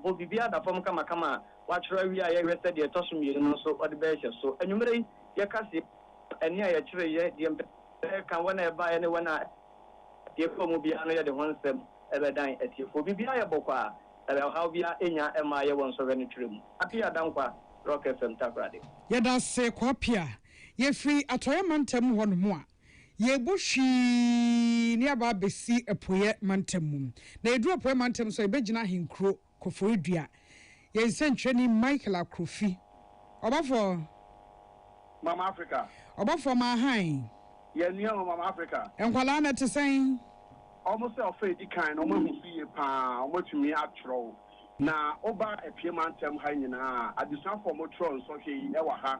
Bɔ biribiara da fam kamakama a woatwerɛ awie a yɛhwɛ sɛ deɛ ɛtɔ so mmienu no nso wode bɛhyɛ so. Anwummerɛ yi, yɛka sei wɔ ɛnne a yɛkyeree yɛ deɛ mpanyinfoɔ no reka, wɔn a ɛbaeɛ ne wɔn a ɛbaeɛ kɔɔ mu biara no yɛde ho nsɛm bɛdan atiefoɔ. Biribiara yɛ bɔkɔ a ɔhaw biara nnya mmaa yɛ wɔ nsɔhwɛ no twerɛ mu. Appiah Dankwa, Rock FM, Takoradi. Yɛda ase Kwaapia. Yɛfiri Atɔeɛ Mantam hɔ nom a. Yebu hwii ne aba abɛsi Apueɛ mantam mu. Na yɛduru Apueɛ mantam nso a, yɛbɛgyina Ahenkuro Koforidua. Yɛn nsɛntwerɛni Michael Akrofi. Ɔbɔfoɔ. Mama Africa. Ɔbɔfoɔ ma hann. Yɛn nua o, Mama Africa. Nkwadaa no te sɛn? Wɔn sɛ ɔfa a ɛdi kan no, wɔahu so yie pa ara. Wɔatumi atwerɛ. Na woba Apueɛ mantam ha nyinaa a, adesuafoɔ a wɔtwerɛ nsɔhwɛ yi wɔ ha.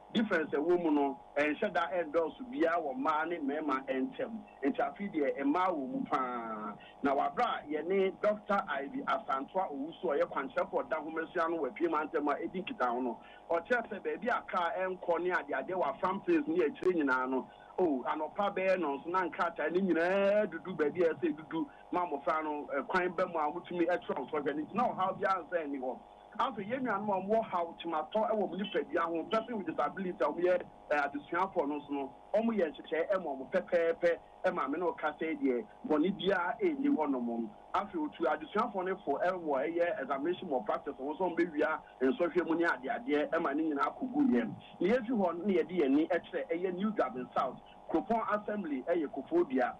Difference a ɛwɔ mu no ɛnhyɛ da ɛndɔɔso biaa wɔ mmaa ne mmarima ɛntɛm, nti afei deɛ mmaa wɔ mu paa. Na wɔ aberɛ a yɛne Dɔkta Ivy Asantewaa Owusu a ɔyɛ kwankyerɛfoɔ a ɔda nhomasua ano wɔ Apueɛ Mantam ha ɛdi nkitaho no, ɔkyerɛ sɛ baabi a kaa ɛnkɔ ne adeadeɛ wɔ Afram Plains ne akyire nyinaa no, oh, anɔpa bɛyɛ nnɔnson na nkrataa no nyinaa adudu baabi a ɛsɛ sɛ ɛdudu ma mmɔfra no kwan ba mu a wɔtumi kyerɛw sɔhwɛ no, nti na ɔhaw biaa nsan nni hɔ. Afei, yɛn nuanom a wɔwɔ haw, kyematɔ wɔ wɔn nipadua ho, person with disability, a wɔyɛ adesuafoɔ no nso no, wɔyɛ nhyehyɛeɛ ma wɔn pɛpɛɛpɛ. Maame no reka sɛ, Deɛ bɔne biara nni hɔ nom. Afei, ɔtuu adesuafoɔ no fo wɔ ɛyɛ examination malpractice ho sɛ wɔbɛwia nsɔhwɛ mu ne adeadeɛ ma ne nyinaa kɔguiɛ. Na yɛfiri hɔ no na yɛde yɛn ani kyerɛ ɛyɛ New Dwabin South, kuropɔn assembly, ɛyɛ Kofoɔ Dua.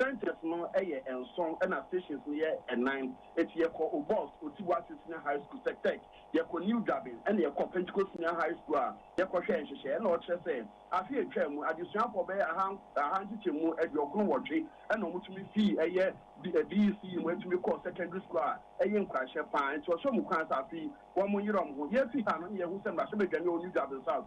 Centres no yɛ nson na stations no yɛ nnan. Enti yɛkɔ Obos, Oti-Boase Senior High School, Sek-Tech, yɛkɔ New Durbin, ɛnna yɛkɔɔ Pentecost Senior High School a yɛkɔhwɛɛ nhyehyɛe. Ɛnna ɔkyerɛ sɛ afe a etwaam mu, adesuafo bɛyɛ aha aha nkyekyɛmu aduokron nwɔtwe na wɔtumi fii ɛyɛ BECE mu tumi kɔɔ secondary school a ɛyɛ nkuranhyɛ paa. Enti ɔhyɛ wɔn nkuran sɛ afe yi wɔnyere wɔn ho. Yefi ha no, ɛnna yɛahu sɛ mmarahyɛbadwani a ɛwɔ New Durbin South,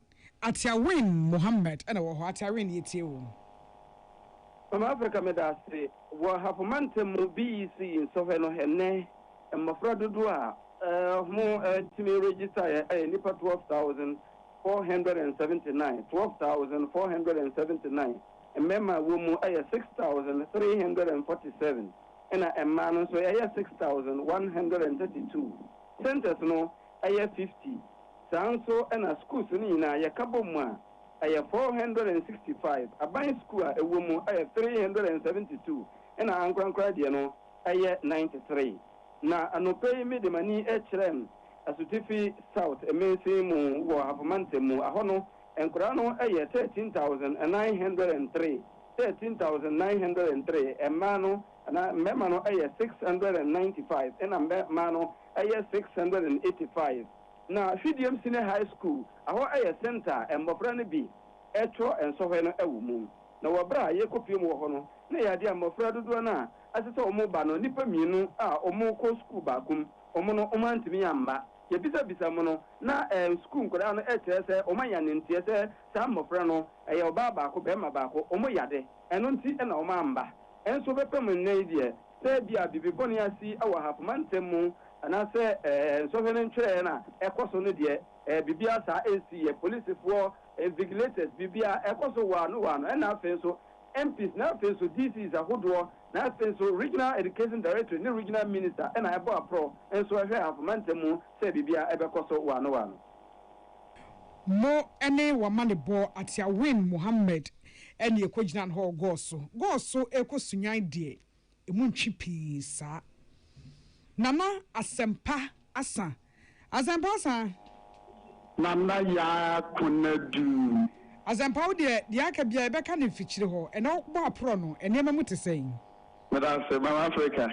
Ateawen Mohammed na ɔwɔ hɔ. Ateawen, yɛtie wo. Mama Africa meda ase. Wɔ Hafo mantam mu BEC nsɔhwɛ no ɛnnɛ mmɔfra dodoɔ a wɔtumi registaeɛ yɛ nnipa 12,479, 12,479, mmarima a wɔwɔ mu yɛ 6,347 ɛna mmaa no nso ɛyɛ 6,132. Centres no ɛyɛ fifty. Saa nso na sukuus no nyinaa yɛka bɔ mu a, ɛyɛ four hundred and sixty five. Aban sukuu a ɛwɔ mu yɛ three hundred and seventy two, ɛna ankorankora deɛ no yɛ ninety three. Na anɔpa yi mede m'ani kyerɛɛm Asutifi South mansin mu wɔ Hafo Mantam mu. Ahɔ no, nkwadaa no yɛ thirteen thousand nine hundred and three, thirteen thousand nine hundred and three, mmaa no, Na mmarima no yɛ six hundred and ninety five ɛna mmɛ maa no yɛ six hundred and eighty five. Na Hwidiam Senior High School ahɔ yɛ centre a mmɔfra no bi twerɛ nsɔhwɛ no wɔ mu. Na wɔ berɛ a yɛrekɔ pie mu wɔ hɔ no, na ɛyɛ adeɛ a mmɔfra dodoɔ no a ɛsɛ sɛ wɔn ba no, nnipa mmienu a wɔn rekɔ sukuu baako mu, wɔn no wɔn antumi amma. Yɛbisa bisa mu no, na sukuu nkwadaa no kyerɛ sɛ wɔn ayɛ ananteɛ sɛ saa mmɔfra no, ɛyɛ ɔbaa baako, barima baako, wɔn yɛ ade, ɛno nti na wɔn amma. Nso wobɛpam nnɛ yi deɛ sɛ ebia biribi bɔne asi wɔ ahafo mantam mu anaasɛ nsɔhwɛ no ntwerɛeɛ no a ɛkɔ so no deɛ, biribiara saa nsiiɛ. Polisifoɔ, invigilators, biribiara ɛkɔ so waa no waa no. Ɛnna afei nso MPs, na afei nso DCs ahodoɔ, na afei nso Regional Education Directorate ne Regional Minister na ɛbɔ aprɔ nso ɛhwɛ ahafo mantam mu sɛ biribiara ɛbɛkɔ so waa no waa no. Mo ne w'amanebɔ atia Win Mohammed ne ɛkɔgyina no hɔ gɔɔ so gɔɔ so rekɔ sunyan deɛ ɛmu ntwe pii saa. Nana Asɛmpa Asa Asɛmpa Asa. Nana Yaa Konadu. Asɛmpa wo deɛ deɛ aka biara yɛbɛka no mfikyire hɔ ɛnɛ wo bɔ aporɔ no nneɛma mu te sɛn? Meda ase Mama Africa.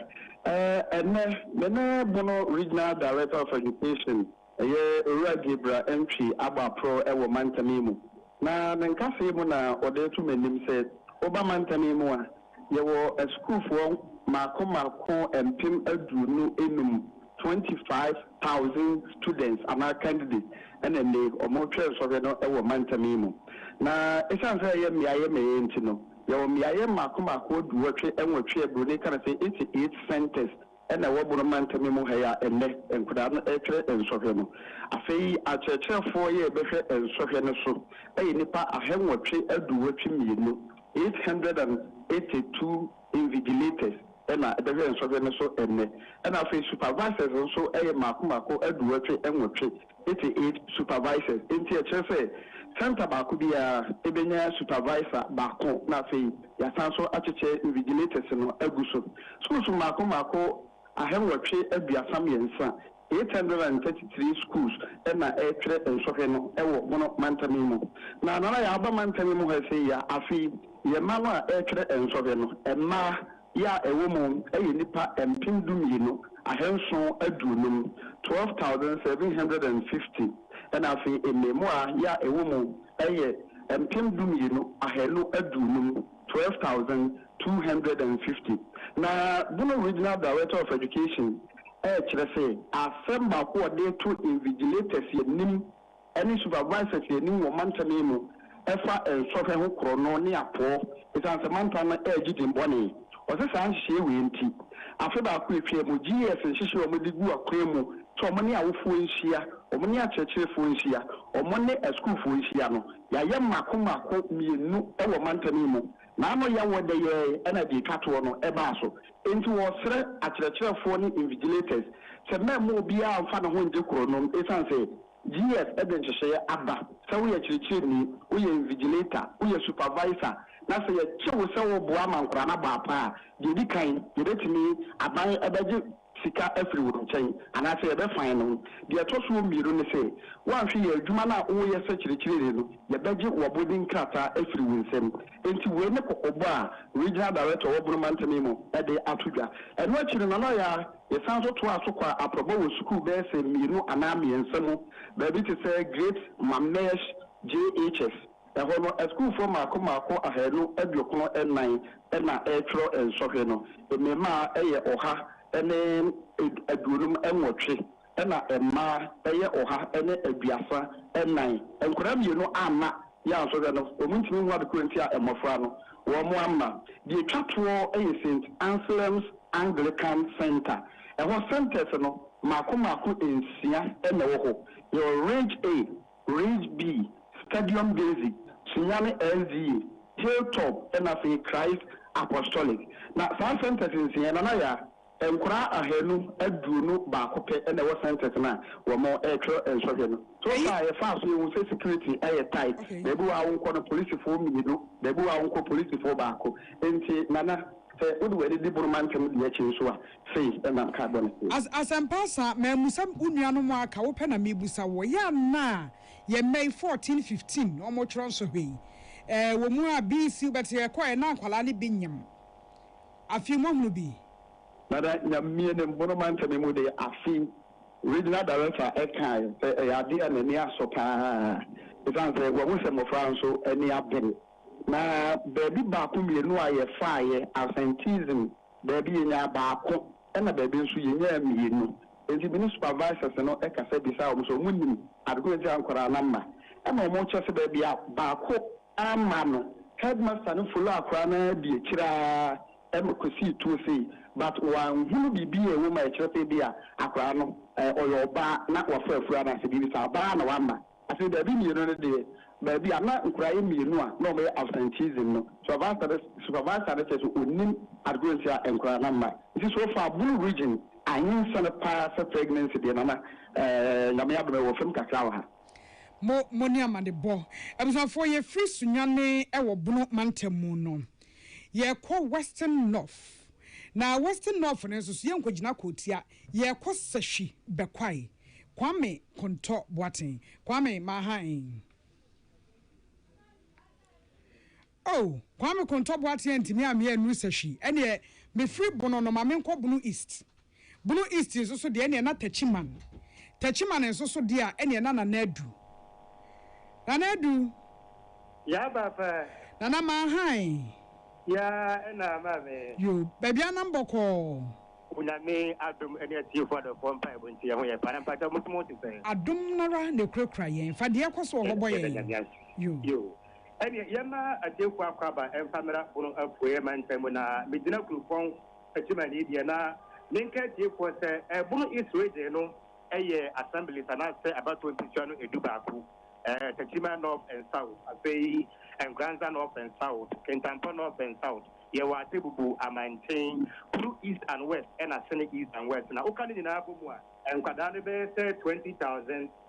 Ɛnɛ me ne Bono Regional Director of Education. Ɔyɛ Owura Gabriel Antwi Aboapro wɔ mantam yi mu, na me nkasɛɛ mu na ɔde reto m'anim sɛ, woba mantam yi mu a, yɛwɔ asukuufoɔ mmaako mmaako mpem aduonu nnum, twenty five thousand students anaa candidates, ɛna ɛnnɛ yi wɔretwɛn sɔhwɛ no wɔ mantam yi mu. Na ɛsiane sɛ ɛyɛ mmeaeɛ mmeaeɛ nti no, yɛwɔ mmeaeɛ mmaako mmaako aduwɔtwe nwɔtwe a Buroni ka no sɛ eighty eight centres, Ɛna ɛwɔ boroma ntɛmɛ mu ha yi a ɛnnɛ nkwadaa no retwerɛ nsɔhwɛ no. Afei akyerɛkyerɛfoɔ yɛ bɛhwɛ nsɔhwɛ no so yɛ nnipa ahɛnwɔtwe aduowɔtwe mmienu, eight hundred and eighty two invigilators na ɛbɛhwɛ nsɔhwɛ no so ɛnnɛ. Ɛna afei supervisors nso yɛ mmaako mmaako aduowɔtwe nwɔtwe. Eighty eight supervisors, enti ɛkyerɛ sɛ centre baako biara bɛnya supervisor baako na afei yɛasan nso akyekyɛ invigilators no agu so. Schools mmaako mmaako ahanwɔtwe aduasa mmiɛnsa, eight hundred and thirty three schools, na ɛretwerɛ nsɔhwɛ no wɔ mono mantam yi mu. Na Nana yɛaba mantam yi mu ha sei a, afei yɛn mma no a ɛretwerɛ nsɔhwɛ no, mmaa Yɛ a ɛwɔ mu yɛ nnipa mpem dumienu, ahanson aduonum, 12,750, ɛnna afei mmarimaa yɛ a ɛwɔ mu yɛ mpem dumienu, ahanu aduonum, 12,250. Ná Bono Regional Director of Education rekyerɛ sɛ asɛm baako a wɔde reto invigilators anim ne supervisors anim wɔ mantam yi mu ɛfa nsɔhwɛ ho korɔno ne apɔɔ esiane sɛ mantam no ɛregye din bɔne. Ɔse saa nhyehyɛɛ wei nti, afe baako ɛtwaa mu, GES nhyehyɛɛ a wɔde gu akwan mu sɛ wɔn ne awofoɔ nhyia, wɔn ne akyerɛkyerɛfoɔ nhyia, wɔn ne asukuufoɔ nhyia no, yɛayɛ mmaako mmaako mmienu wɔ mantam yi mu, na ano yɛ wɔ dɛ yɛɛ na deɛ ɛtwa toɔ no ɛbaa so. Enti wɔresrɛ akyerɛkyerɛfoɔ ne invigilators sɛ mɛmma obiara mfa ne ho ngye korɔnom esiane sɛ, GS de nhyehyɛeɛ aba sɛ woyɛ kyerɛkyerɛni, woyɛ invigilator, woyɛ supervisor, na sɛ yɛgye wo sɛ woboa ma nkwadaa no abɔ apaa a, deɛ ɛdi kan, yɛbɛtumi, aban bɛgye sika afiri wo nkyɛn anaasɛ yɛbɛ fine no. Deɛ ɛtɔ so mmienu ne sɛ, woanhwɛ yɛ adwuma no a woreyɛ sɛ kyerɛkyerɛni no, yɛbɛgye w'abɔdin nkrataa afiri wo nsam. Enti wei ne kɔkɔbɔ a Regional Director wɔ Bono Mantam yi mu de ato dwa. Ɛno akyi no, Nana Ɔyaa, Yɛsan nso toaa so kɔɔ aprɔbɔ wɔ sukuu bɛyɛ sɛ mmienu anaa mmiɛnsa mu, baabi te sɛ Great Mamesh JHS. Ɛhɔ no, asukuufoɔ mmaako mmaako ahanu aduokron nnan na ɛretwerɛ nsɔhwɛ no. Mmarimaa yɛ ɔha ne aduonum nwɔtwe, ɛnna mmaa yɛ ɔha ne aduasa nnan. Nkwadaa mmienu amma Yɛ ansɔhwɛ no, wɔntumi nhu ade koro nti a mmɔfra no wɔn amma. Deɛ ɛtwa toɔ yɛ Saint Anselm's Anglican Centre. Ɛhɔ centres no mmaako mmaako nsia na ɛwɔ hɔ. Yɛwɔ Ridge A, Ridge B, Stadium Daisy, Sunyani SDA, Hilltop na afei Christ Apostolic. Na saa centres nsia yi, Nana Yaa, Nkwadaa ahanu aduonu baako pɛ na ɛwɔ centres no a wɔretwerɛ nsɔhwɛ no. So far a yɛfaa so yɛhu sɛ security yɛ tight, baabi wɔ a wonkɔ no polisifoɔ mmienu, baabi wɔ a wonkɔ polisifoɔ baako. Nti Nana sɛ wode w'ani di Bono mantam deɛ akyi nso a, sei na nka bɔ no sei. As Asɛmpa Asa, mammu sɛ wo nuanom a aka, wopɛ na mebusa wo, ɛyɛ a na yɛn mma yi, 14, 15, na wɔretwerɛ nsɔhwɛ yi? Ɛwɔ mu a BC wobɛte yɛkɔeɛ na nkwadaa no bi nyem Afei moahunu bi? Dada Nyamie ne mmono mantɛm mu deɛ afe yi Regional Director kae sɛ ɛyɛ adeɛ a n'ani asɔ pa ara ɛsiane sɛ wahu sɛ mmɔfra nso ani abere na baabi baako mmienu a yɛfaeɛ Absenteeism baabi yɛnyaa baako ɛna baabi nso yɛnyaa mmienu enti me ne Supervisors no kasa bisaa wɔn sɛ wɔnim ade ko a nti a nkwadaa no ama ɛma wɔkyɛ sɛ baabi a baako Amma no, headmaster no follow akwadaa no ara di akyire ara ma kɔsii tuo sei but wanhunu biribi a ɛwɔ mu a ɛkyerɛ sɛ ebia akwadaa no ɔyɛ ɔbaa na wafa afura anaasɛ biribi saa. Ɔbaa na wamma. Afei baabi mmienu no deɛ, baabi a na nkwadaa yɛ mmienu a na wɔyɛ absenteeism no, supervisor no supervisor no kyerɛ sɛ ɔnnim adekorɔ nti a nkwadaa no amma. Nti so fa Bulu region, Ahensa no pa ara sɛ pregnancy deɛ, Nana, ɛɛ, Nyame adom ɛwɔ fam kakra wɔ ha. Mo mo ne amanebɔ. Abusuafoɔ yɛ firi Sunyane wɔ Bono mantam mu no yɛ kɔ Western North na Western North no nso so yɛ nkɔ gyina Kootia yɛ kɔ Sahwi Bɛkwae Kwame Kontɔ Boaten Kwame Maha en. Oh Kwame Kontɔ Boateng antumi ammea nnuru sahwi ɛneɛ mefiri Bono no ma menkɔ Bono East. Bono East nso so deɛ ɛneɛ na Techiman. Techiman nso so deɛ a ɛneɛ na Nana Adu. Nana Adu. Yaa Papa. Nana Maahan. Yaa ɛna Maame. Yo, baabi ara nam bɔkɔɔ. Onyame adom ɛne atiefoɔ adɔfoɔ mpaebɔ nti yɛn ho yɛ paa na mpakyɛw mo nso mo ho te sɛn? Adom no ara na ɛkurakura yɛn. Fa deɛ ɛkɔ so wɔ hɔ bɔ yɛn. Yo. Ɛnneɛ yɛmma atiefoɔ akwaaba mfa mmra Bono Apueɛ mantam mu na megyina kuropɔn Adwumani deɛ na menka atiefoɔ sɛ Bono East Region no yɛ Assemblies anaasɛ abatoɔ mpesua no du baako, Tekyima North and South, afei Nkranza North and South, Kintampo North and South, yɛwɔ Atebubu, Amankyen, Kuru East and West ɛna Sene East and West. Na woka ne nyinaa bɔ mu a, nkwadaa no bɛyɛ sɛ 20,000.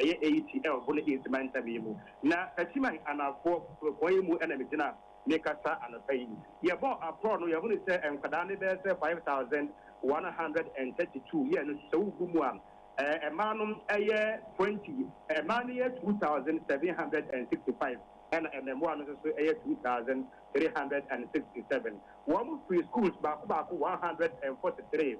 ɛyɛ ATL bo ne East mantam yi mu. Na Katiman Anaafoɔ kuropɔn yi mu na megyina rekasa anɔpa yi. Yɛbɔɔ aprɔɔ no, yɛhunuu sɛ nkwadaa no bɛyɛ sɛ 5132 yɛɛ no sɛ wogu mu a, mmaa no yɛ 20. Mmaa no yɛ 2765 ɛna mmɛmoa no nso so yɛ 2367. Wɔn firi schools baako baako 143.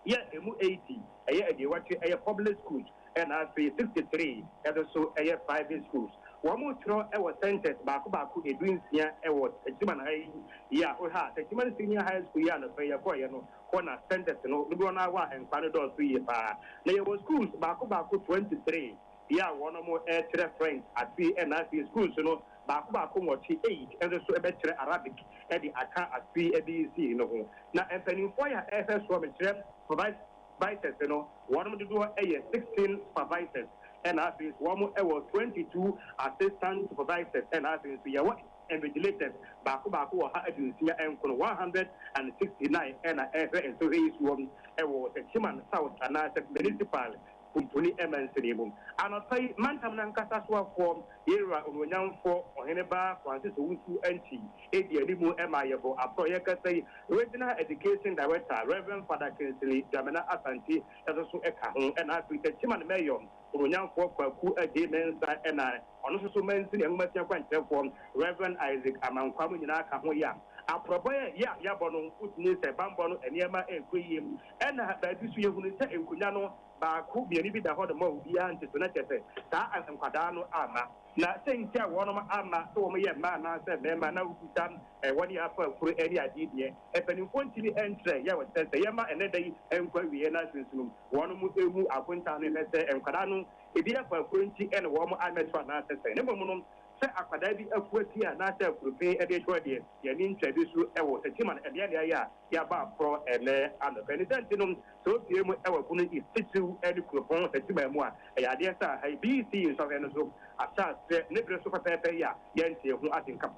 yɛ ɛmu 80 ɛyɛ aduowɔtwe ɛyɛ public schools ɛna afei 63 ɛdo so ɛyɛ private schools. Wɔn twerɛ ɛwɔ centres baako baako ɛdu nsia ɛwɔ Techiman ha yi yɛ a wohwɛ a Techiman senior high school yi a nɔfɛ yɛkɔɔ yɛ no hɔ na centres no dodoɔ no ara wɔ a nkwadaa no dɔɔ so yie paa na yɛwɔ schools baako baako 23. Bea a wɔnom rekyerɛ French ase ɛna afei schools no baako baako nwɔtwe, eight, nso so bɛkyerɛ Arabic de aka afei ɛde sii no ho. Na mpaninfoɔ ya ɛhwɛ soɔ mekyerɛ supervisors no wɔnom dodoɔ yɛ sixteen supervisors ɛna afei nso wɔn wɔ twenty two assistant supervisors ɛna afei nso yɛ wɔ invigilators baako baako ɔha aduosia nkono, one hundred and sixty nine, ɛna ɛhwɛ nsohwɛ yi soɔ wɔ Techiman South anaa sɛ municipal Pumpuni ɛmɛ nsene mu. Anɔpa yi mantam no ankasa soafoɔ, Ye'Wura Onuonyamfoɔ Ɔhene Ba Francis Owusu Antwi edi anim ma yɛbɔ aprɔ. Yɛ'kasa yi, Regional Education Director Rev. Father Kingsley Dwamena Asante nso so ka ho, ɛna afei Techiman Mayor Onuonyamfoɔ Kwaku Adjei Mensah ɛna ɔno nso so mansini nwomasua kwankyerɛfoɔ Rev. Isaac Amankwah mo nyinaa ka ho yea. Aprɔbɔ yɛ a yɛabɔ no, wotumi sɛ banbɔ no nneɛma ɛrekɔ yie. Ɛna baabi nso yɛhunu sɛ nkonwa no baako mmienu bi da hɔ nom a obiara nte so, na kyerɛ sɛ saa a nkwadaa no amma. Na sɛ nti a wɔnom amma sɛ wɔn yɛ mmaa anaa sɛ mmarima na wobisa wɔn yɛ afa koro ne adeɛ deɛ, mpaninfoɔ ntumi nkyerɛ yɛ wɔn sɛ sɛ yɛma ɛnɛ da yi nkɔ awieɛ na sunsunum wɔnom ɛmu akontaa no hwɛ sɛ nkwadaa no ɛbi afa koro nti ɛna wɔnom ammɛto anaa sɛ sɛn, na mmom no Sɛ akwadaa bi afua ti anaasɛ akurupe de retɔ adeɛ, yɛanni nkyerɛde su wɔ akyi ma no mmeaemmeaeɛ a yɛaba aporɔ ɛnnɛ anɔpa yi. Ne sɛ nti no, sɛ ɔpue mu wɔ ɛpo no titiriw ne kuropɔn Satima mu a, ɛyɛ adeɛ sɛ aha yi BBC nsɔhwɛ no so ahyɛaseɛ ne bere so pɛpɛɛpɛ yi a yɛntee ho asɛnka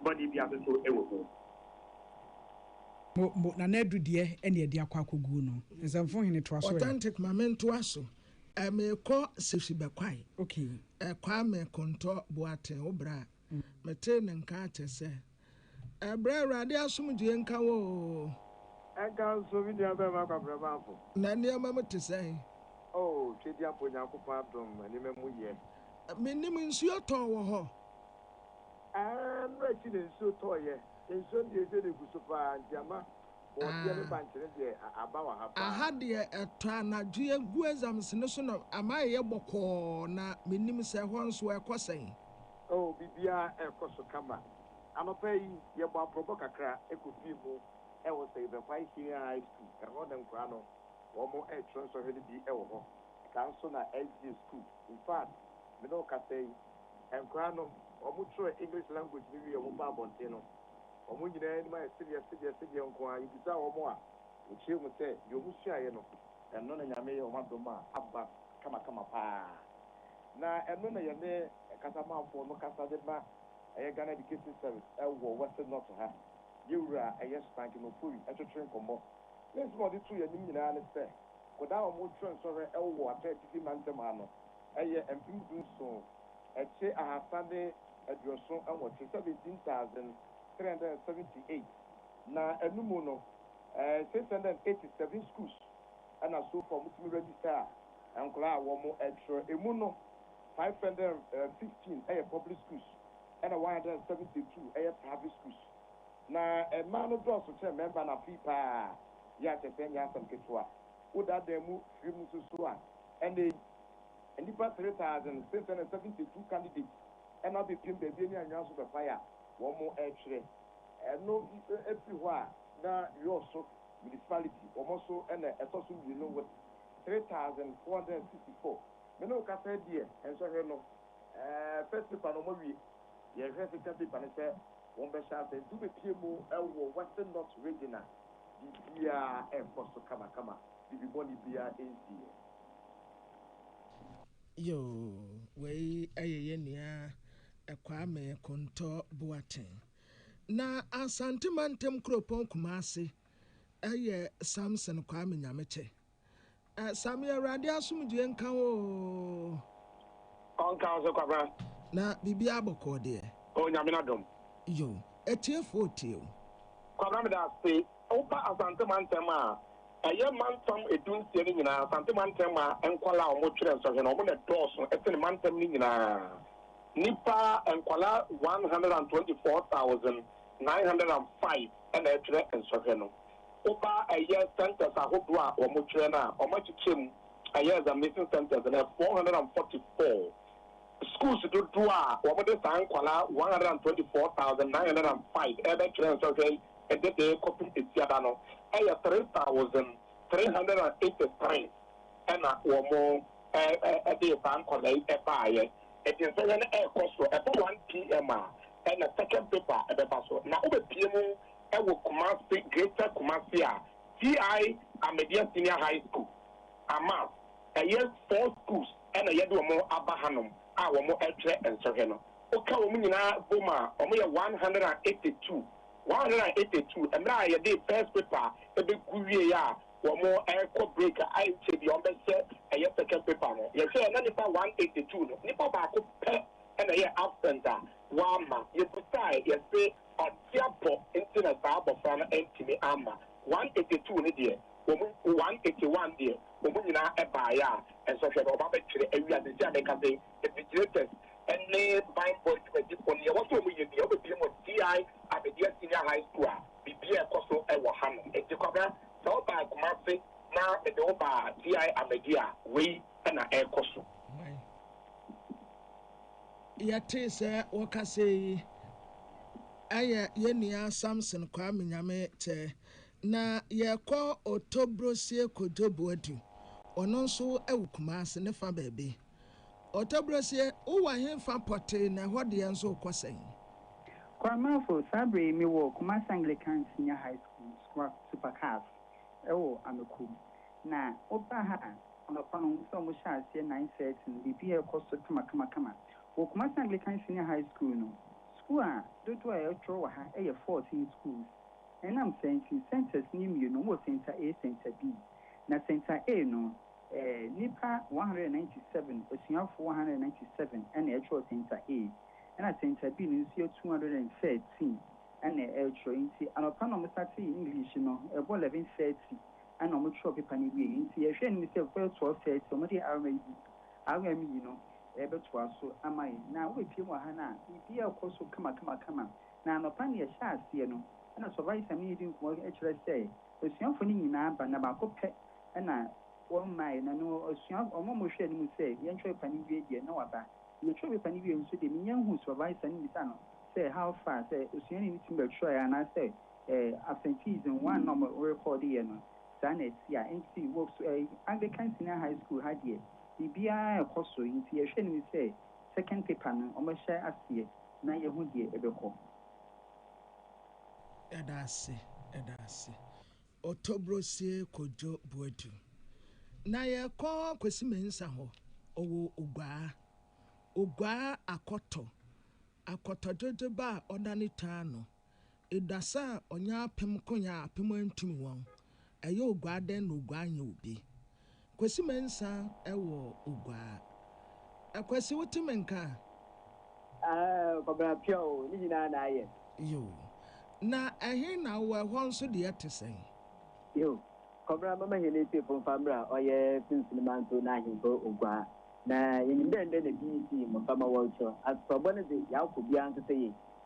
bɔne biara no nso wɔ mu. Mo, mo, Nana Adu deɛ na yɛde akɔ akɔguo no. Nsɛmfo Hene toa so ɛ. Authentic, ma mentoa so. Eh, me kɔ sisi bɛ kwae. Okay. Eh, Kwame Kontɔ Boateng wo bra. Mm. Me tee ne nka akyɛ sɛ. Eh, bra Awurade asomdwie nka wo oo. Ɛnka nso me nua bɛɛma Kwabrɛ Mamfo. Na nneɛma mu te sɛn? Oh, Twedi Ampɔ Onyankopɔn adom nneɛma mu yɛ. Eh, me nim nsuo tɔɔ wɔ hɔ. Eh, mmrɛ akyi na nsuo tɔɔ yɛ. Nsuo no deɛ ɛsɛ na ɛgu so paa nti ama Bɔɔdeɛ ne bankyene deɛ aba wɔ ha paa. Aha deɛ ɛtɔ anadwo yɛgu exams no so na ama ɛyɛ bɔkɔɔ na mennim sɛ ɛhɔ nso ɛkɔ sɛn. Oh biribiara ɛrekɔ so kama. Anɔpa yi yɛbɔ aprɔbɔ kakra kɔ fie mu wɔ Seivekwai Senior High School. Ɛhɔ na nkwadaa no wɔn retwerɛ nsɔhwɛ no bi wɔ hɔ. Saa nso na SDA school. In fact me ne wo kasa yi nkwadaa no wɔn twerɛ English language no wie a wɔn ba abɔnten no Wɔn nyinaa anim ayɛ sedeɛ sedeɛ sedeɛ nko ara. Yɛbisaa wɔn a, wɔkyerɛɛ mu sɛ deɛ wɔsuaeɛ no, ɛno na Nyame yɛ wɔn adom a aba kamakama pa ara. Na ɛno na yɛne Kasamanfoɔ no kasa de ma ɛyɛ Ghana Education Service ɛwɔ Western North ha. Yɛn Wura a ɛyɛ Stankin Ofori twetwee nkɔmmɔ. Ne nsɛm a ɔde too yɛn anim nyinaa ne sɛ, Kodaa a wɔn twerɛ nsɔhwɛ ɛwɔ Atɔɛ Atifi Mantam ha no, ɛyɛ mpem du nson, ɛkye ahasa ne eduoso nwɔtwe, seventeen thousand three hundred and seventy eight, na ɛno mu no six hundred and eighty seven schools ɛna so far ɔmo tumi register nkwadaa a wɔn ɛtwerɛ, ɛmu no five hundred and fifteen ɛyɛ public schools ɛna one hundred and seventy two ɛyɛ private schools, na mmaa no dɔɔso kyɛn mmarima no afei paa, yɛ a kyerɛ sɛ ɛnyɛ asɛm ketewa, wo daadaa mu firi mu nso so a ɛnɛ yi Nnipa 3,672 candidates na abepiem baabi ani anwia so bɛpae a wɔretwerɛ. Ɛno firi hɔ a na Yɔso Municipality wɔn so na ɛtɔ so mmienu with 3,464. Me ne wo kasa yi deɛ nsɔhwɛ no first paper no wɔawie, yɛrehwɛ second paper no sɛ wɔbɛhyɛ ase nti wobɛpie mu wɔ Western North Region a biribiara rekɔ so kamakama, biribi bɔne biara nsiiɛ. Yoo, wei yɛ yɛn nua Kwame Kontɔ Boateng. Na Asante mantam kuropɔn Kumase yɛ Samson Kwame Nyamekyɛ. Sammy Awurade asomdwoeɛ nka wo oo. Ɔnka wo so Kwabena. Na biribiara bɔkɔɔ deɛ. O Nyame n'adom. Yoo, atiefoɔ tie o. Kwabena meda ase Woba Asante mantam a, ɛyɛ mantam edu nsia no nyinaa, Asante mantam a nkwadaa a wɔtwerɛ nsɔhwɛ no, wɔn na ɛdɔɔso sene mantam no nyinaa. Nnipa, nkwadaa one hundred and twenty four thousand nine hundred and five na ɛtwerɛ nsɔhwɛ no. Woba ɛyɛ centres ahodoɔ a wɔtwerɛ no a, wɔakyekyɛ mu ɛyɛ examination centres no, ɛyɛ four hundred and forty four. Schools dodoɔ a wɔde saa nkwadaa one hundred and twenty four thousand nine hundred and five rebɛtwerɛ nsrahwɛ yi de dee kɔpem Asiada no yɛ three thousand three hundred and eighty three ɛna wɔn dee saa nkwadaa yi baeɛ. Nti nsrahwɛ no rekɔ so, ɛtɔ one PM a ɛna second paper bɛba so na wobɛpie mu wɔ Kumasi, Greater Kumasi a TI Ahmedia Senior High School ama ɛyɛ four schools. na yɛde wɔn aba hanom a wɔrekyerɛ nsɔhwɛ no. Woka wɔn nyinaa bom a, wɔyɛ one hundred and eighty two. One hundred and eighty two. Mmerɛ a yɛde first paper bɛgu wieeɛ a wɔrekɔ break a, ɛnkyɛre biara wɔbɛhyɛ ɛyɛ second paper no. Yɛhwɛɛ na nnipa one hundred and eighty two no, nnipa baako pɛ na ɛyɛɛ absent a wamma. Yɛbisaeɛ, yɛse ɔte apɔ nti na saa abɔfra no antumi amma. One hundred and eighty two no deɛ, Wɔn mu one eighty one deɛ, wɔn nyinaa baeɛ a, nsɔhwɛ no, wɔabɛtwerɛ awie a, seesei a merekasa yi, invigilators ne banbɔ adwumadifo no, deɛ ɛwɔ sɛ wɔyɛ nie, wɔbɛbue wɔn TI Ahmadiyya Senior High School a, biribiara a ɛkɔ so wɔ hanom. Enti Kwabena, sɛ wobae Kumasi na mede wo baa TI Ahmadiyya a, wei na ɛrekɔ so. Hwan? Yɛtee sɛ wɔkasɛɛ yi, ɛyɛ yɛn nua Samson Kwame Nyame Tɛɛ, Na yɛkɔ Otobrosie kɔdwo Boadu. Ɔno nso wɔ Kumase ne fa baabi. Otobrosie, wowɔ ɛhefa pɔtee na ɛhɔ deɛ nso wokɔ sɛn? Kwaramafo, Saa bere yi mewɔ Kumase Anglican Senior High School sukuu ase super cars wɔ Amako. Na woba ha a, anɔpa no wohu sɛ wɔhyɛ aseɛ nine thirty no, biribiara rekɔ so kamakamakama. Wɔ Kumase Anglican Senior High School no, sukuu a dodoɔ a ɛtwerɛ wɔ ha yɛ fourteen schools. Ɛnam saa nti, centres no mmienu wɔ Centre A, Centre B. Na Centre A no, nnipa 197, asuafoɔ 197 na ɛtwerɛ Centre A, ɛna Centre B no nso yɛ 213 na ɛtwerɛ. Nti anɔpa na wɔsatee English no, ɛbɔ 11:30 na wɔtwerɛ paper no wieeɛ. Nti yɛhwɛ anim sɛ bɛbɛyɛ 12:30 wɔde RME no bɛtoa so ama yɛn. Na wobɛpiem wɔ ha no a, biribiara rekɔ so kamakamakama. Na anɔpa no yɛhyɛɛ aseɛ no na Sɔvaisa ne yɛdi nkɔmmɔ kyerɛ sɛ asuafoɔ no nyinaa ba na baako pɛ na wɔmmaeɛ na no asua wɔn a wɔhwɛɛ no mu sɛ yɛn kyerɛwpepa no wie deɛ na waba. Na yɛ kyerɛwpepa no wiee nso deɛ mennya nhuu Sɔvaisa no mmisaa no sɛ how far sɛ osuani no tumi bɛtwerɛeɛ anaa sɛ ɛɛ absenteeism one na wɔn rekɔɔdeeɛ no saa na ɛte a nti wɔ ɛɛ Anglican Senior High School ha deɛ biribiara rekɔ so nti yɛhwɛɛ no mu sɛ second paper no wɔahyɛ aseɛ. na yɛahu deɛ ɛbɛkɔ. Yɛda ase, yɛda ase. Ɔtɔbrosie Kojo Boadu. Na yɛkɔ Kwesi Mensah hɔ, ɔwɔ Oguaa. Oguaa akɔtɔ, akɔtɔdwodwoba a ɔda ne taa ano. Eda sɛ ɔnya apem ko yɛn a apem antumi wɔn. Ɛyɛ oguaa dɛn na oguaa nyɛ obi. Kwesi Mensah wɔ oguaa. Kwesi wote me nka a? Ahaa Kwabena pia o, ne nyinaa na ayɛ. Yoo. Na ɛhe na wowɔ, ɛhɔ nso deɛ ɛte sɛn? Yoo. Kwabena mɛma yɛn atiefo mfa mmra ɔyɛ Sunsini Manso n'ahemfo oguaa. Na yɛnim dɛ ndɛ na BBC mmɔframma wɔretwerɛ. Asopɔbɔ no dze, yɛakɔ biara nso sɛ yei.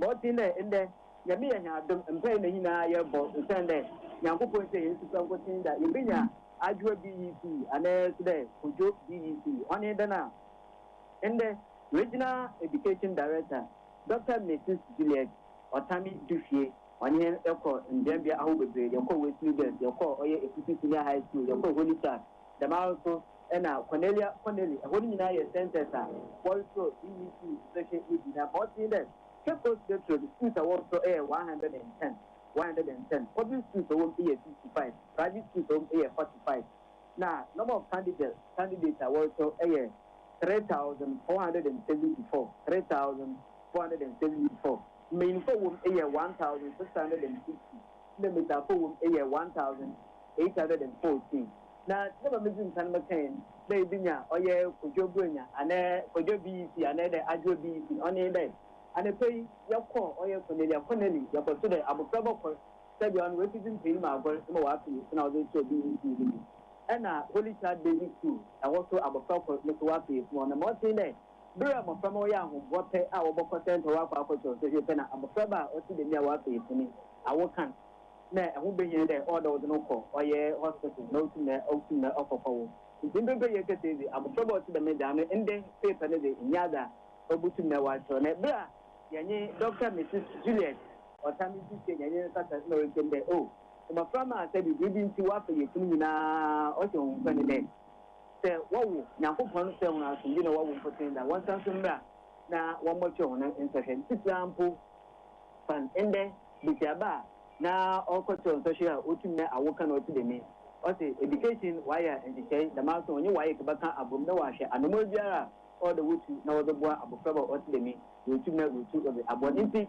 Bɔtsen dɛ ndɛ, Nyame yɛ hɛn adom, mpaa na nyina yɛbɔ osiandɛ Nyankopɔn tsia hɛn sufrɛ nkotsee dɛ yebenya adwowa BEC anaa so dɛ Kojo BEC. Ɔnye dɛn a, ndɛ Regional Education Director, Dɔkta Mrs Juliet Ɔtami Dufie, ɔnye hɛn kɔr mbeambea ahorow beberee, yɛkɔr Wesley Girls, yɛkɔr ɔyɛ Efusi Senior High School, yɛkɔr Holy Child, Dɛm ara so na Cornelia Connolly, hɔn nyina yɛ scientists a wɔrosɔ DEC sesehwɛ edzi, na ma ɔtse nye dɛ, Cape Coast Metro no skuuls a wɔrosɔ yɛ one hundred and ten, one hundred and ten, public skuuls a ɔwɔ mu yɛ fifty five, private skuuls a ɔwɔ mu yɛ forty five, na number of candidate candidates a wɔrosɔ yɛ three thousand four hundred and seventy four, three thousand four hundred and seventy four, mbanyinfo a wɔwɔ mu yɛ one thousand six hundred and sixty. na metaafa wom yɛ one thousand eight hundred and fourteen na dɛma medzi nkan mekãe no dɛ bi nye a ɔyɛ Kojo Buenya anaa Kojo BEC anaa dɛ Adwoa BEC ɔno nye dɛ anapa yi yɛkɔɔ ɔyɛ Cornelia Connelly yɛkɔto dɛ abofraba kor sɛdeɛ ɔno oesi dze mpanyin mu agor ma ɔafe esi na ɔdze rekyerɛ BEC no mu ɛna Holy Child Basic School ɛhɔ so abofra kor no so ɔafe esi na ɔnam ɔtsee dɛ Ber a mboframba a wɔyɛ ahoboa pɛ a wɔbɔkɔ sɛntsɛw akɔ akɔkyerɛw sohwɛ pɛ na abofraba a ɔtse dɛm yi a ɔafa efi ne awo kan na ho behia dɛ ɔwɔ dɛ wɔdze no kɔ ɔyɛ hospital na otum na otum na ɔkɔfa wo. Ntsi mprɛmprɛ yɛrekasa yi dze, abofraba a ɔtse dɛm egya no ndɛ paper no dze nnyɛ adze a obotum na ɔakyerɛw. Na ber a yɛnye Dɔkta Mrs. Juliet Ɔtame sisei na yɛnye no kasa na ɔreka mu dɛ, Oh, mboframba a sɛ biribi ntsi wɔafa yefi no nyina ɔhyɛ hɔn nkuran dɛ, Sɛ wɔwo Nyankopɔn sɛ hɔn asomdwee na wɔwo mpotsee dza wɔnsan so mbra na wɔmbɔkyerɛ hɔn nsɔhwɛ no tsitsir ara mpo fa ndɛ basiaba a na ɔrokɔkyerɛw nsɔhwɛ a otum na awo kã na ɔtse dɛm yi. Ɔse education wɔayɛ nhyehyɛe dɛm ara so ɔnye WAEC bɛkã abɔ mu na wɔahwɛ anamɔn biara a ɔwɔ dɛ wotu na wɔdze boa abofraba a ɔtse dɛm yi, woetum na woetu wɔdze abɔ ne ntsi.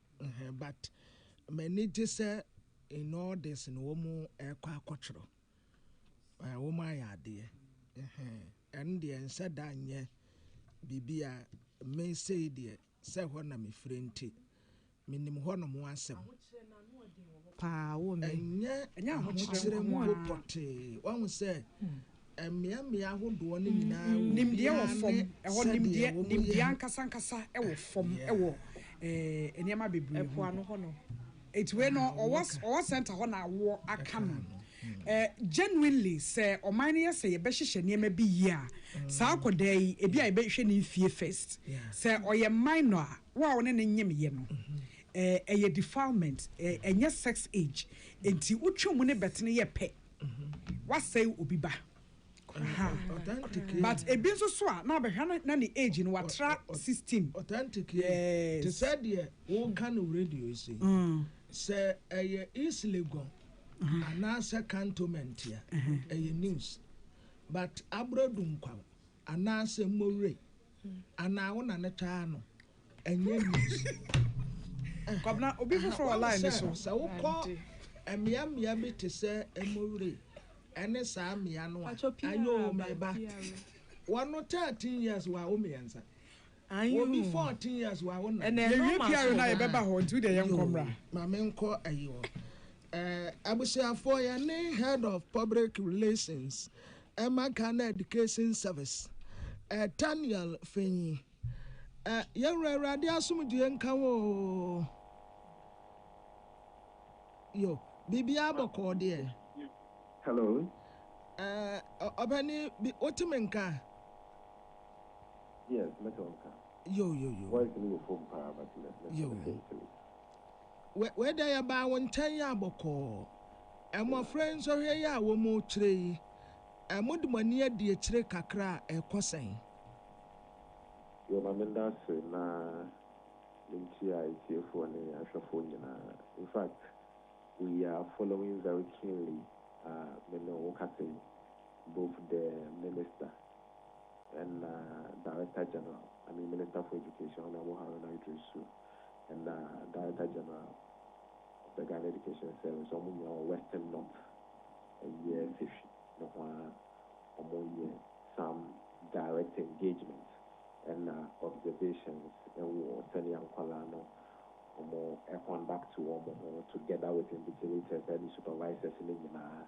Ɛhɛn but m'ani gye sɛ in all this no wɔn ɛkɔ akɔtwerɛ ɛɛ wɔn ayɛ adeɛ ɛhɛn ɛno deɛ nhyɛ da nyɛ biribi a me sei deɛ sɛ hɔ na me firi nti me nim hɔ nom asɛm ɛnyɛ ahokyerɛ mpo pɔtee wahu sɛ Mmeammea ahodoɔ no nyinaa wɔ obiara ne sɛdeɛ wɔyɛ. Nimdeɛ wɔ fam, ɛhɔ nimdeɛ, nimdeɛ ankasa ankasa wɔ fam wɔ nneɛma bebree ho. Ɛpoano hɔ no. Nti wei no ɔwɔ ɔwɔ center hɔ na awoɔ aka no. Genuinely sɛ ɔman no yɛ sɛ yɛbɛhyehyɛ nneɛma bi yie a, saa akɔdaa yi ebi a yɛbɛhwɛ ne nfie first. Sɛ ɔyɛ minor a, wo a wo ne no nyemeeɛ no, ɛyɛ defilement, ɛnyɛ sex age. Nti wotwe mu ne bɛtene yɛ pɛ. wasɛe obi ba ahaa but ebi nso so a na abɛhwɛ na na ne age no watra sixteen. authentic yɛ Yes. te sɛ deɛ woka no radio yi so yi Mm. sɛ ɛyɛ east legon anaasɛ cantonment a ɛyɛ news but aborɔdu nkwa Anaasɛ mowerɛ anaa wo na no taa no ɛnyɛ news eh Kwabena obi foforɔ wɔ line no so. Wahu sɛ sɛ wokɔ mmea mmea bi te sɛ mowerɛ ɛne saa mmea no a ayoo meba wɔn no thirteen years wɔ awo mmiɛnsa. Anyi hoo. Wo bi fourteen years wa wo na. Yɛ wie piare na yɛ bɛ ba hɔ nti wo deɛ yɛ nkɔ mmra. Ma me nkɔ ayi hɔ. Eh, abusuafoɔ yɛ ne head of public relations ɛma Ghana education service eh, Taniel Fenyi eh, yɛ wura awurade asomdue nka wo oo. Yo, biribiara bɔkɔɔ deɛ. Hello. Eh, ɔpɛni bi, wote me nka? Yes mɛtɔ nka. Yo yo yo. Voice no wɔ fam paa but mɛ mɛ Yo. mɛsɛ ntɛlɛ. Wɛ wɛ dɛ yɛbaa wo nkyɛn yɛ a bɔkɔɔ. Mmɔfra yi nsɔhwɛ yi a wɔrekyerɛ yi, ɛ mode mo ani adi akyire kakra a, ɛrekɔ sɛn? Yo ma meda ase na menkyia atiefoɔ ne ahwɛfoɔ nyinaa. In fact we are following very keenly ah me ne wo kasa yi, both the minister. na Director General, I mean Minister for Education, Honourable Haruna Idris Su, na Director General of the Ghana Education Service, wɔn nyinaa wɔ Western North, ɛyɛ Sefwi no ho ara, wɔyɛ some direct engagement na observations wɔ sɛdeɛ nkwadaa no wɔconduct wɔn ho together with invigilators ne supervisors no nyinaa.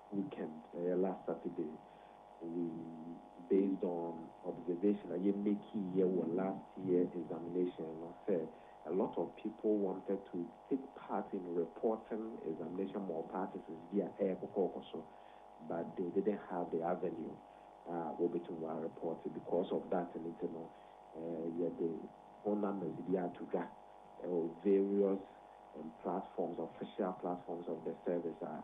weekend ɛyɛ last Saturday we based on observation a yɛ makee yɛ wɔ last year examination no sɛ a lot of people wanted to take part in reporting examination malpractices bi a ɛyɛ kɔkɔɔkɔ so but they didn't have the avenue a wɔbɛtumi wɔa report because of that no nti no yɛde phone numbers bi ato dwa ɛwɔ various platforms official platforms of the service a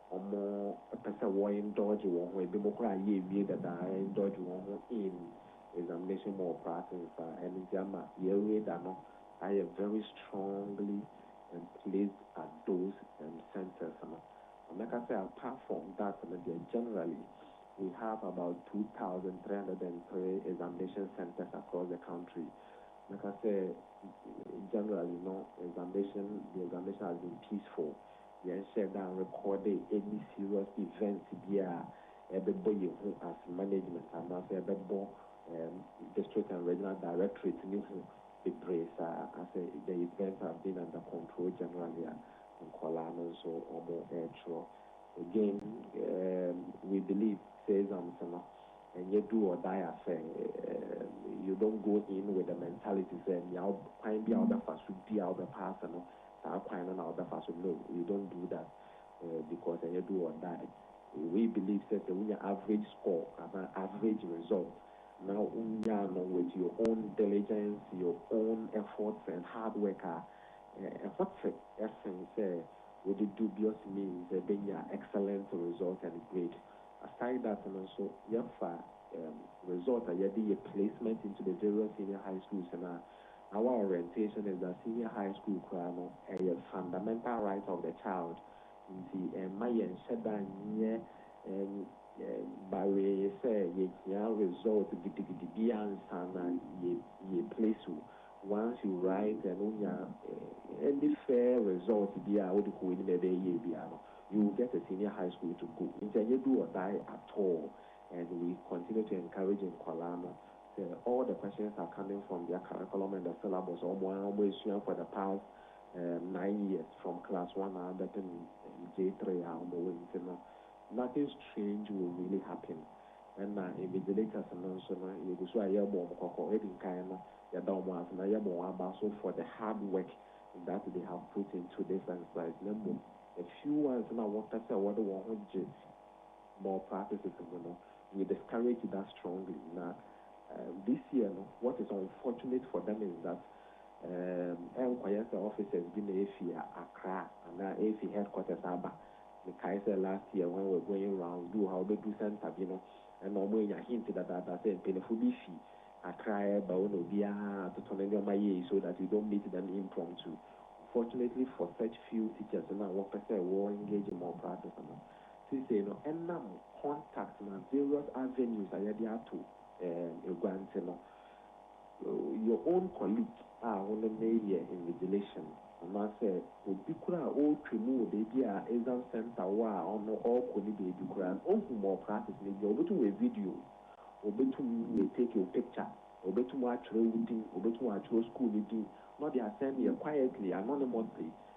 Wɔpɛ sɛ wɔ indulge wɔn ho, ebinom koraa a yɛawie dada a indulge wɔn ho in examination mu wɔ practice a ɛno nti ama yɛn radar no ayɛ very strongly emplaced at those um centres no. Na mɛka sɛ apart from that no deɛ generally we have about two thousand three hundred and three examination centres across the country. Mɛka sɛ generally no examination the examination has been peaceful. Yɛn hyɛɛ da anrekɔɔde any serious event biaa a ɛbɛbɔ yɛn hu as management anaasɛ ɛbɛbɔ um District and Regional Directorate no hu bebree saa. Asɛ the events have been under control generally a nkɔlaa no nso wɔn ɛɛtwerɛ. Again um we believe sɛ exams no ɛnyɛ do or die affair um you don't go in with the mentality sɛ nea kwan bi a wobɛfa so di a wobɛpaase no saa kwan no na ɔbɛfa so no you don't do that because ɛnyɛ do or die we believe sɛ sɛ wonya average score anaa average result na wonyaa no with your own diligence your own efforts and hard work a ɛho te ɛsen sɛ wode dubious means bɛnya excellent result and grade aside that no nso yɛfa result a yɛde yɛ placement into the various senior high schools no a Our orientation is that senior high school koraa no ɛyɛ fundamental right of the child nti ɛmma yɛnhyɛ da nyɛ bawee sɛ yɛhia result gidigidi bi ansa na yɛ place wo. Once you write and wonya any fair result bi a wode kɔ w'anim a ɛbɛyɛ yie biara no, you will get a senior high school to go. Nti ɛnyɛ do or die at all and we continue to encourage nkwadaa no Sɛ all the questions are coming from their curriculum and the syllabus a wɔn ara wɔasua for the past um, nine years from class one ara bɛpem um, J3 a wɔwɔ yi nti no, nothing strange will really happen. Ɛna invigilators no nso no, yɛgu so a yɛrebɔ wɔn kɔkɔ. Edi nkan no, yɛda wɔn ase na yɛbɔ wɔn aba nso for the hard work that they have put into this exercise. Na mmom, a few ones no a wɔpɛ sɛ wɔde wɔn ho gye more practices mu no, we discourage that strongly. Na this year no, what is unfortunate for them is that ɛnkɔyɛ sɛ officers bi na efi Accra anaa efi headquarters aba. Mekae sɛ last year when we were going rounds, bi wɔ hɔ a wobɛduru centre bi no, ɛnna wɔanya hint dadaada sɛ mpanyimfo bi fi Accra reba o na obiara atoto ne nneɛma yie so that you don't meet them impromptu. Unfortunately for such few teachers no a wɔpɛ sɛ wɔ engage in more practice no, Seesei no, ɛnam contact na various avenues a yɛde ato gua nti no, your own colleague a wo ne no reyɛ invigilation anaasɛ obi koraa a ɔretwa mu wɔ baabi a exam centre wɔ a ɔno ɔrekɔ ne baabi koraa no, ɔhu malpractice no bi a, ɔbɛtum ayɛ video, ɔbɛtum atake wo picture, ɔbɛtum atwerɛ wo din, ɔbɛtum atwerɛ school no din na ɔde asɛm yɛ quietly, anonymously,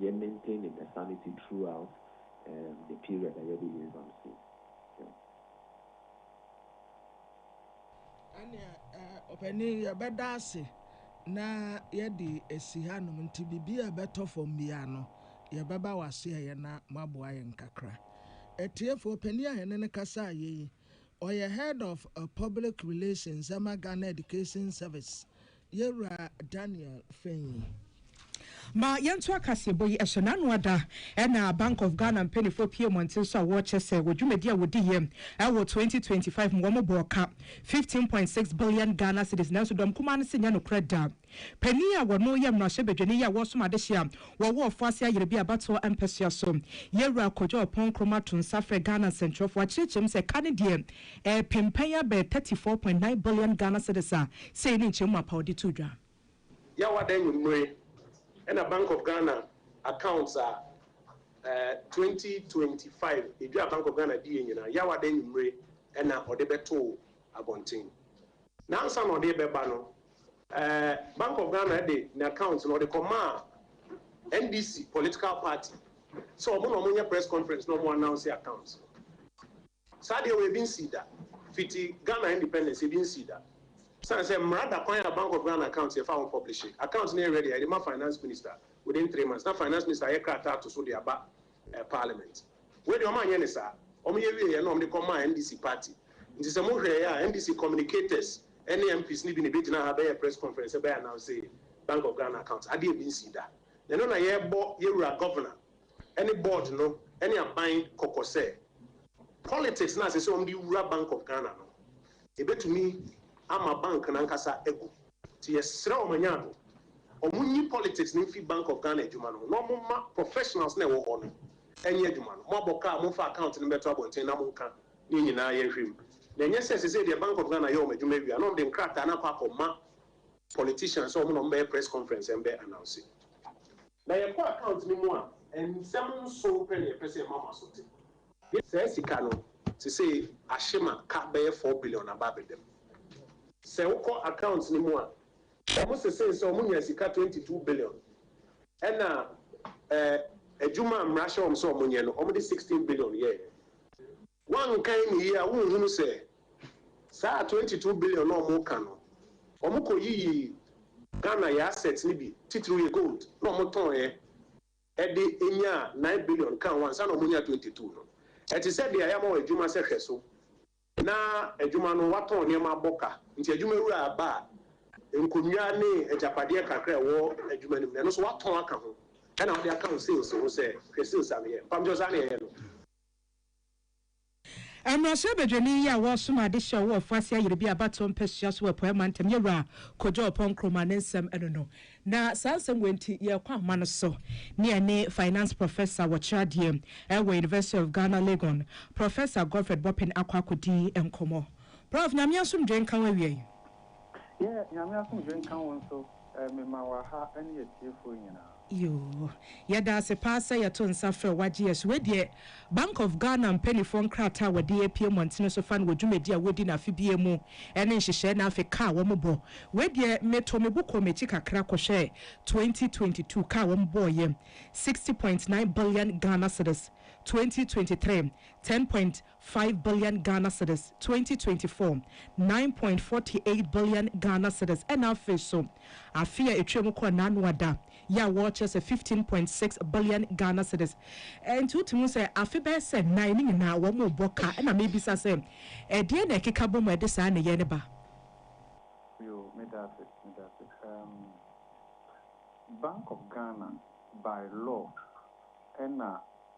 Yɛ maintain ne pɛ sanity throughout um the period a yɛde yɛ exam sei yeah. Ɛneɛ eh ɔpanin yɛbɛda ase na yɛde asi ha nom nti biribi a ɛbɛtɔ fam biara no yɛbɛba wase ayɛ na moaboa yɛn kakra. Atiefoɔ panin a yɛne no kasa ayɛ yi ɔyɛ head of public relations ɛma Ghana Education service Yɛn Wura Daniel Fenyi. Ma yɛnto akaseɛbɔ yi ɛhyɛ n'ano ada na Bank of Ghana mpaninfoɔ pue mmɔnten so a wɔrekyɛ sɛ wɔ dwumadi a wɔdiiɛ ɛwɔ twenty twenty five mu wɔn bɔɔ ka fifteen point six billion Ghana cedis nanso dɔm kumaa no se nyɛ nokorɛ da. Panin a wɔno yɛ mmarahyɛbadwani yi a wɔresom adehye a wɔwɔ ɔfo ase ayere bi abatoɔ mpɛsoa so Yɛn Wura Kojo Ɔpɔn Nkrumah to nsa frɛ Ghana nsɛnkyerɛfoɔ akyerɛkyerɛ mu sɛ ka no deɛ Ɛrepem pɛn ara bɛyɛ thirty four point nine billion Ghana cedis a sei ne nkyɛmu mapa a wɔde too dwa. Yawada anwummere na Bank of Ghana accounts a eh twenty twenty five edwa a Bank of Ghana diiɛ nyinaa, Yawada anwummere na ɔde bɛtoo abɔnten. Na ansa na ɔde rebɛba no, eh Bank of Ghana de n'account no ɔde kɔmaa NDC political party sɛ wɔn na wɔnyɛ press conference na wɔn announce accounts no. Saa deɛ wei ebi nsii da. Fiti Ghana independence ebi nsii da. Sane sɛ mmara da kwan a Bank of Ghana account yɛfa ho publishe. Account no yɛ ready a yɛde ma Finance Minister within three months na Finance Minister ayɛ krataa ato so de aba Parliament. Wei deɛ wɔn anyɛ no saa. Wɔn yɛ wieɛ na wɔn de kɔ maa NDC party. Nti sɛ mo hwɛɛ a NDC communicators ne MPs no bi na ɛbɛgyina ha bɛyɛɛ press conference sɛ bɛ announce Bank of Ghana account. Adeɛ ebi nsii da. Na ɛno na yɛrebɔ yɛn wura Governor ne board no ne aban kɔkɔ sɛ politics no a ɛsɛ sɛ wɔde wura Bank of Ghana no, ɛbɛtumi ama bank no ankasa agu. Nti yɛsrɛ wɔn anyaado, wɔnyi politics no mfi Bank of Ghana adwuma no ho na wɔmma professionals no a ɛwɔ hɔ no nyɛ adwuma no. Moabɔ ka a, momfa account no mmɛto abɔnten na monka ne nyinaa yɛnhwɛ mu. Na ɛnyɛ sɛ sesei deɛ Bank of Ghana yɛ wɔn adwuma awie a na wɔde nkrataa no akɔ akɔma politicians sɛ wɔn na wɔbɛyɛ press conference mbɛ announce. Na yɛkɔ account no mu a, nsɛm nson pɛ na yɛpɛ sɛ yɛma mo asote. Saa sika no, sesei ahye ma ka bɛyɛ four billion aba abɛda mu. Sɛ wokɔ account no mu a, wɔn sesee sɛ wɔnya sika twenty two billion, ɛna ɛɛ adwuma a mmara hyɛ wɔn sɛ wɔnyɛ no, wɔde sixteen billion yɛeɛ. Woankan no yie a wonhunu sɛ saa twenty two billion no a ɔmo ka no ɔmo kɔ yiyii Ghana yɛ assets no bi titiriw yɛ gold na ɔmo tɔɔɛ ɛde nyaa nine billion kaa ho ansa na ɔmo nyaa twenty two no. Ɛte sɛ deɛ yama wo adwuma sɛ hwɛ so na adwuma no watɔn nneɛma abɔ ka nti adwuma wura ba a nkonnwa ne agyapadeɛ kakra a ɛwɔ adwuma no mu no ɛno nso watɔn aka ho ɛna wode aka wo sales ho sɛ hwɛ sales a meyɛ mpamkyɛw saa na yɛyɛ no. Mmarahyɛ Badwani yi a ɔresom ade hyɛ ɔwɔ Ɔfoase Ayerbi abatoɔ mpasua so wɔ Apueɛ Mantam yɛ Wura Kojo Ɔpɔn Nkrumah ne nsɛm ɛno no. Na saa nsɛm wei nti yɛrekɔ ahoma no so ne yɛne Finance Professor wɔ kyerɛ adeɛ ɛwɔ University of Ghana Legon, Professor Godfred Boppin akɔ akɔdi nkɔmmɔ. Prof. Nyame asomdwoe nka wo awiei. Yeah, Nyame asomdwe nka wo nso eh, me ma wɔ ha ɛne atiefoɔ nyinaa. Yoo. Yɛda ase paa sɛ yɛto nsa frɛ wo agye yɛn so. Wei deɛ, Bank of Ghana mpaninfoɔ nkrataa a wɔde apue mmɔntene so fa no wɔ dwumadi a wɔdi no afe biara mu ne nhyehyɛɛ na afe ka a wɔbɔ. Wei deɛ, metoo me bo kɔɔ m'akyi kakra kɔhwɛɛ twenty twenty two ka a wɔbɔeɛ, sixty point nine billion Ghana cedis, twenty twenty three, ten point. Five billion Ghana cedis, twenty twenty four, Nine point forty eight billion Ghana cedis, ɛna afei so afe a etwa mu kɔɔ n'ano ada yi a wɔrekyerɛ sɛ fifteen point six billion Ghana cedis. Ɛnti wotumi hu sɛ afe bɛyɛ sɛ nnan no nyinaa wɔrebɔ ka. Ɛna mebisa sɛ ɛdeɛn na ɛkeka bɔ mu a ɛde saa nneyɛɛ no ba? Yo, meda ase, meda ase. Um, Bank of Ghana by law ɛna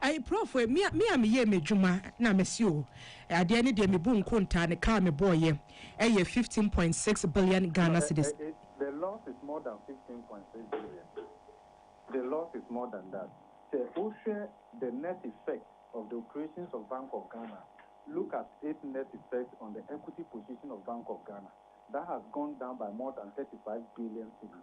Ai prɔfo e, me a me a meyɛɛ m'adwuma na mese o, adeɛ no deɛ mebu nkontaa no kaa mebɔɔeɛ ɛyɛ fifteen point six billion Ghana cedis. The loss is more than fifteen point six billion, the loss is more than that, sɛ wohwɛ the net effect of the operations of Bank of Ghana, look at its net effect on the equity position of Bank of Ghana, that has gone down by more than thirty five billion cedis.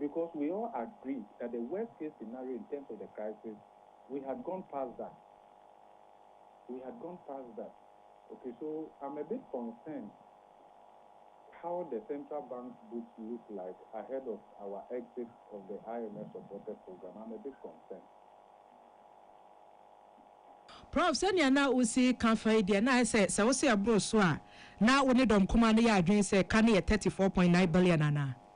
Because we all agree that the worst case scenario in terms of the crisis, we had gone past that. We had gone past that. Okay, so I'm a bit concerned how the central bank's books look like ahead of our exit of the IMF supported program. I'm a bit concerned. Prof, sɛnea na wusi ka fa yi deɛ, na ayɛ sɛ sɛ wose ɛboro so a, na wo ne dɔm kumaa no yɛ adwene sɛ ka no yɛ thirty four point nine billion anaa?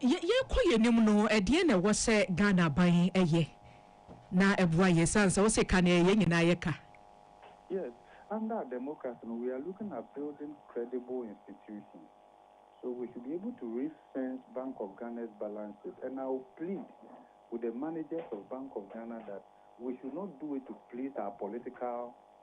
Yɛ yɛrekɔ yɛn anim no, ɛdeɛn na ɛwɔ sɛ Ghana aban yɛ na ɛboa yɛn ɛsiane sɛ wose ka no ɛyɛ yɛn nyinaa yɛ ka? Yes, under our democracy no, we are looking at building credible institutions. So we should be able to ring fence Bank of Ghana's balance sheet and I will plead with the managers of Bank of Ghana that we should not do it to please our political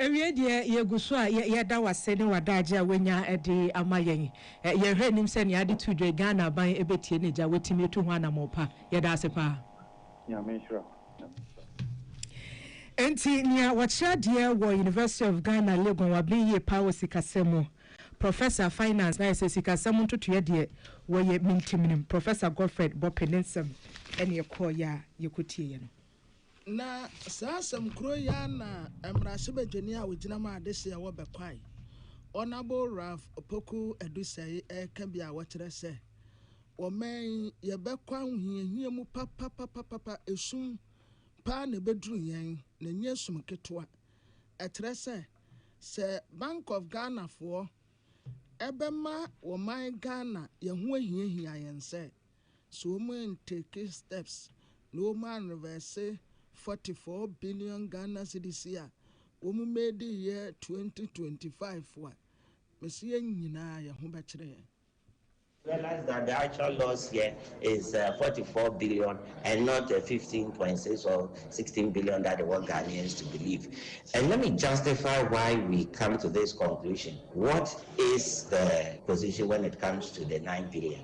Awiei deɛ, yɛgu so a yɛda wo ase ne w'adagye a woanya de ama yɛn. Yɛn hwɛ nnim sɛ nea ade tu dwa yi, Ghana aban bɛtie ne gya, watumi atu ho anammɔn pa. Yɛda ase paa. Nyame nhyira wo. Nyame nhyira wo. Enti nea wɔkyerɛ adeɛ wɔ University of Ghana Legon waben yie paa wɔ sikasɛm mu. Professor, Finance, na ayɛ sɛ sikasɛm ntotoeɛ deɛ wɔyɛ mentim nim. Professor Godfred Bopey ne nsɛm ɛne ɛkɔɔeɛ a yɛkɔtieeɛ no. Na saa asɛm koro yi ara na mmarahyɛbadwani a ɔgyina ma adehyeɛ wɔ Bɛkwae, Honourable Ralph Opoku Adusei reka bi a wɔkyerɛ sɛ, Wɔ ɔman yi, yɛbɛkɔ ahohiahia mu papapapapa, esum pa ara na ɛbɛduru yɛn, na ɛnyɛ esum ketewa. Ɛkyerɛ sɛ, sɛ Bank of Ghanafoɔ bɛma ɔman Ghana yɛn ho ahiahia yɛn sɛ, So wɔn an take steps na wɔn an reverse forty four billion Ghana cedis a wɔn made yɛ twenty twenty five a, mese yɛn nyinaa yɛn ho bɛkyere yɛn. I realize that the actual loss here is forty four billion and not fifteen point six or sixteen billion that they want Ghanaians to believe and let me justify why we come to this conclusion, what is the position when it comes to the nine billion?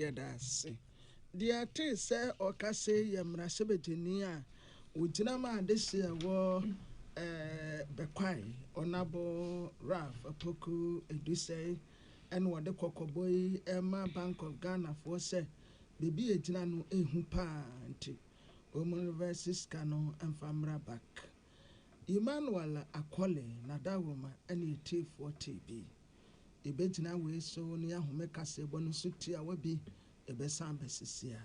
Yɛda ase. Deɛ yɛtee sɛ ɔka sei yɛ mmarahyɛbadwani a ɔgyina maa adehyeɛ ɛwɔ Bɛkwae, Ɔnabo Ralph Apoku Edusei ɛna ɔde kɔkɔbɔ yi rema Bank of Ghana foɔ sɛ baabi a ɛgyina no ɛhu paa nti wɔn reverse sika no mfa mmra back. Emmanuel Akole Nadawoma ɛne ɛtiefoɔ tee bi. Ebegyina wei so ne ahome kaseɛbɔ no so tiawa bi, ɛbɛsan abɛsisi a.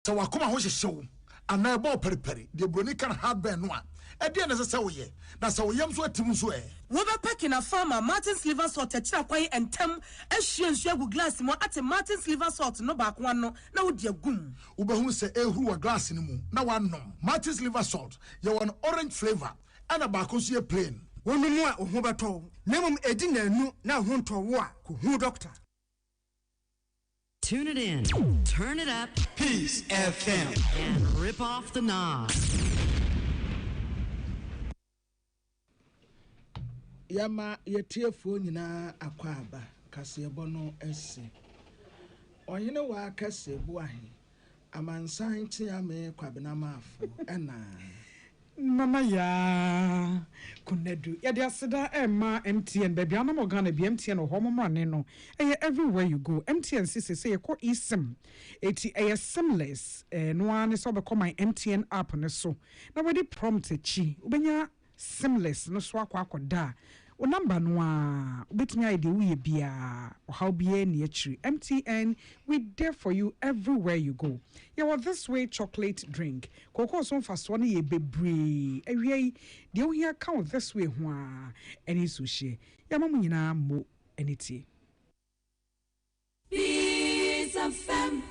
Sɛ w'akoma ho hyehye wo anaa ɛbɔ wo paripari, deɛ Buroni ka no heartburn, no a, ɛdeɛn na ɛsɛ sɛ woyɛ? Na sɛ wo yam so atim nso ɛ? Wobɛpaki na fa ama Martin's Liver Salt akyira kwan ntɛm, ahwie nsuo agu glass mu, ate Martin's Liver Salt no baako ano, na wode agu mu. Wobɛhunu sɛ ɛrehuru wɔ glass no mu na woanom. Martin's Liver Salt yɛ wɔ no orange flavour ɛna baako nso yɛ plain. Wonom a, wo ho bɛtɔ wo, na mmom ɛdi nnanu na wo ho ntɔ wo a, kɔhu dɔkta. Tune it in, turn it up, Peace FM, and rip off the knob. yɛma yɛtiefoɔ nyinaa akwaaba kaseɛbɔ no ase ɔhene waa kɛse boahe Amansan tea me Kwabena Maafo ɛnaa. Nana Yaa, Konadu. Yɛde aseda rema MTN, baabi a na mowɔ Ghana bia MTN wɔ hɔ, mo mmra nen no, ɛyɛ everywhere you go. MTN se sesei yɛkɔ eSIM, eti ɛyɛ simless, ɛno ara ne sɛ wobɛkɔ my MTN app no so na wadi prompt akyi, wobɛnya Seamless no so akɔ akɔda a, wo number no ara, wobɛtumi ayɛ deɛ woyɛ biara, ɔhaw biara nni akyiri. MTN, we there for you everywhere you go. Yɛwɔ This Way Chocolate Drink. Kookoo so mfasoɔ no yɛ bebree. Awia yi, deɛ wohia ka wo This Way ho ara, ɛne nsuohyeɛ. Yɛama mo nyinaa mo ani tie. Beats FM.